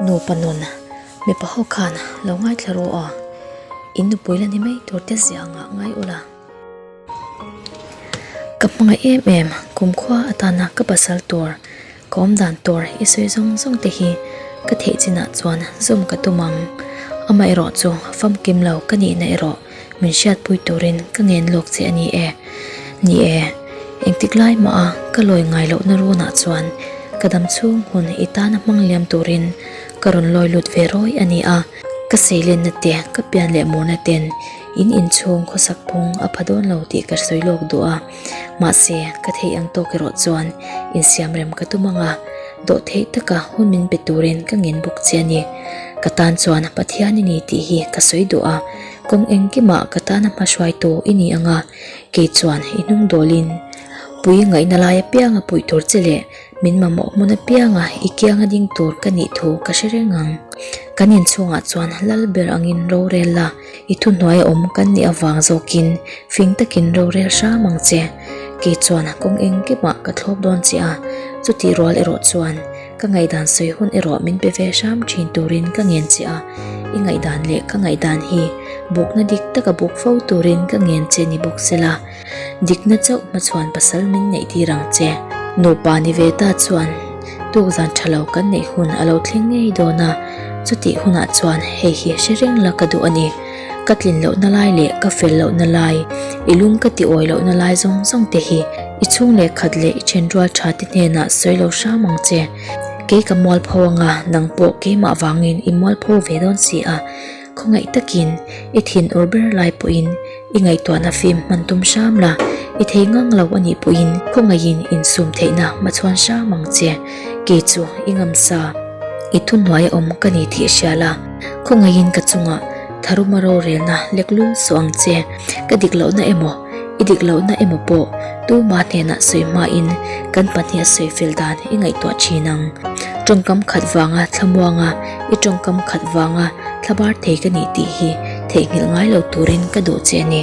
Nupa nun, mipa ho khan lo ngaithla ru aw, in nupui la ni mai tur te zia a ngah ngai ula. Ka hmangaih em em, kum khua atana ka pasal tur Kawm dan tur i sawi zawng zawng te hi ka theih chin ah chuan zawm ka tum ang. Amaherawh chu famkim lo ka nih na erawh min hriat pui turin ka ngen lawk che a ni e. Ni e, engtik lai mah a ka lawi ngai loh na run ah chuan ka dam chhung hun i tan a hmang liam turin ka rawn lawi lut ve rawi a ni a. Ka seilen na te, ka pian leh mur na ten in inchhung khawsak phung a pha dawn lo tih ka sawi lawk duh a. Mahse, ka theih ang tawk erawh chuan insiamrem ka tum ang a, dawh theih taka hun min pe turin ka ngen bawk che a ni. Ka tan chuan Pathian i ni tih hi ka sawi duh a, kawng engkimah ka tana hmahruaitu i ni anga kei chuan i hnung dawlin pui ngaihna lai apiang a puih tur che leh min mamawh hmun apianga i kianga ding tur ka nih thu ka hre reng ang. Kan inchhungah chuan lal ber angin rorel la. I thu hnuai awm kan nih avang zawkin fing takin rorel hram ang che. Kei chuan kawng eng ki mah ka thlawp dawn che a, chutih rual erawh chuan ka ngaihdan sawi hun erawh min pe ve hram thin turin ka ngen che a. I ngaihdan leh ka ngaihdan hi bukna dik taka buk fo turin ka ngen che ni bawk sela. Dikna chauh hma chuan pasal min neih tir ang che. Nupa Niveta chuan tukzan tha lo kan neih hun a lo thleng ngei dawn a, chutih hunah chuan hei hi a hre reng la ka duh a ni. Ka tlin lohna lai leh ka fel lohna lai, i lung ka ti awi lohna lai zawng zawng te hi i chhung leh khat leh i then rual tha te hnenah sawi lo hram ang che. Kei ka mual pho anga nang pawh keimah vangin i mual pho ve dawn si a. Khawngaih takin i thin ur ber lai pawhin i ngaihtuahna fim hman tum hram la, i thei ngang lo a nih pawhin khawngaihin insum theihna hma chhuan hram ang che. Kei chu i ngam sa, i thu hnuai a awm ka ni tih hria la, khawngaihin ka chungah tharuma rorelna lek lul suh ang che. Ka dik lohna emaw? I dik lohna emaw pawh tuma hnenah sawi hmain kan pahniha sawi fel dan i ngaihtuah thin ang. Tawngkam khat vanga thlamuanga i tawngkam khat vanga thlabar thei ka nih tih hi theihnghilh ngai lo turin ka duh che a ni.